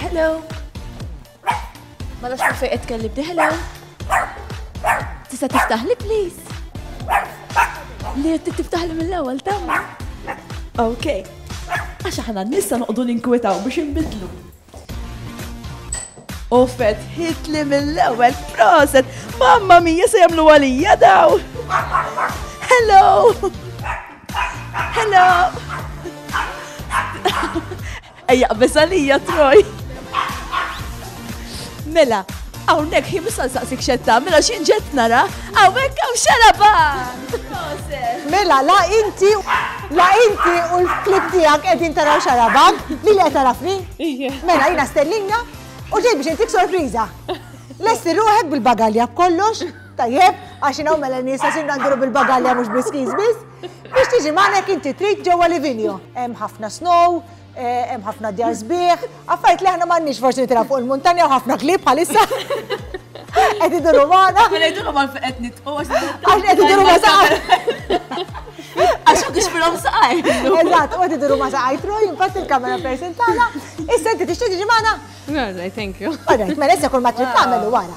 Hello! Ma nafx kif qed tkellibni, hello! Tista' tiftaħli please? Li qed tiftaħli mill-ewwel tamma? Ok. Għax aħna nista noqdu ninkwetaw biex inbidlu. U fet hitli mill-ewwel proset, mamma mija se jagħmlu għalija daw. Hello! Hello! Ejja qbeż għalija Troy. Mela, hawnhekk hi mista nsaqsik xetta, mela xi ġett nara, hawnhekk hawn xaraba. Mela, la inti, la inti u l-klib tiegħek qegħdin taraw xarabak, li li qed tarafni? Mela jiena stellinja u ġej biex intik sorpriża. Lesti ruħek bil-bagalja b'kollox, tajjeb, għax inhawn mela nies għax induru bil-bagalja mhux biskiż biss. Biex tiġi magħna inti trid ġewwa Livigno. Hemm ħafna snow, hemm ħafna djar sbieħ, affarijiet li aħna m'għandniex forsi nitilgħu fuq il-muntanja u ħafna klieb bħalissa. Qed iduru magħna. Mela jduru ma qed nitqu għax qed iduru ma saqar. Għax ma kiex filhom saqar. Eżatt, qed iduru ma saqar troj, impatt il-kamera person tagħna. Issa inti tixtieq tiġi magħna? No, thank you. Alright, mela issa kull ma trid tagħmel wara.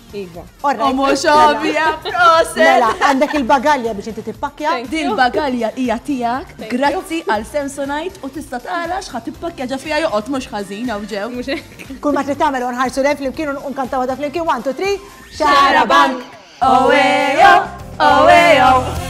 Iva. Omo xobija, proset! Mela, għandek il-bagalja biex inti tippakja? Din bagalja hija tiegħek, grazzi għal Samsonite u tista' tara x'ħadd tippakja ġa fiha joqgħod mhux ħażin hawn ġew. Kull ma trid tagħmel nħarsu lejn flimkien u nkantaw għadha flimkien 1 2 3 Xara Bank! Owejo! Owejo!